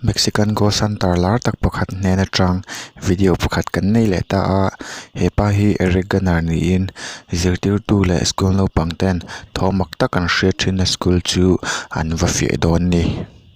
Mexican gold santar lar tak pakhat nen atang video pakhat kan nei leh ta a hepa hi Eric Garner niin zirtirtu leh school naupang ten thawmhnaw tak an hria thin a school chu an va fiah dawn a ni.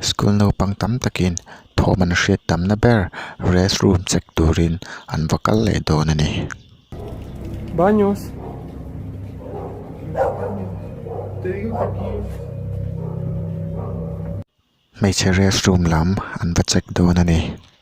School naupang tam takin thawm an hriat tam na ber rest room check turin an va kal leh dawn a ni. Hmeichhe rest room lam an va check dawn a ni.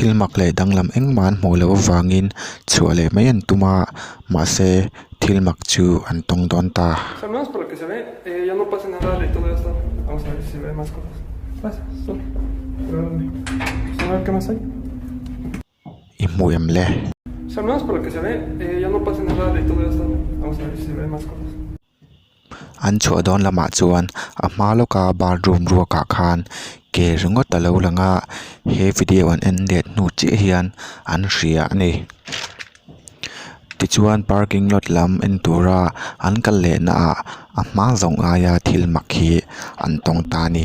Thil mak leh danglam engmah an hmuh loh avangin chhuah leh mai an tum a, mahse thil mak chu an tawng dawn ta. I hmu em le? An chhuah dawn lamah chuan a hma lawka bar room ruakah khan ke ringawt a lo lang a he video an en let hnu chiah hian an hria a ni tichuan parking lot lam en tura an kal leh naah a hma zawng aia thil mak hi an tawng ta a ni.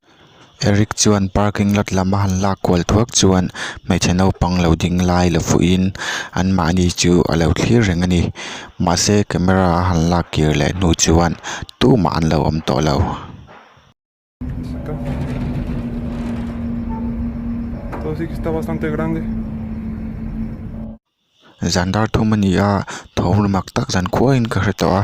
Eric chuan parking lot lam a han lak kual thuak chuan hmeichhe naupang lo ding lai la fuihin anmahni chu a lo thlir reng a ni. Mahse camera a han lak kir leh hnu chuan tumah an lo awm tawh lo. Zan dar thum a ni a, thawm lumak tak zan khuaiin ka hre tawh a.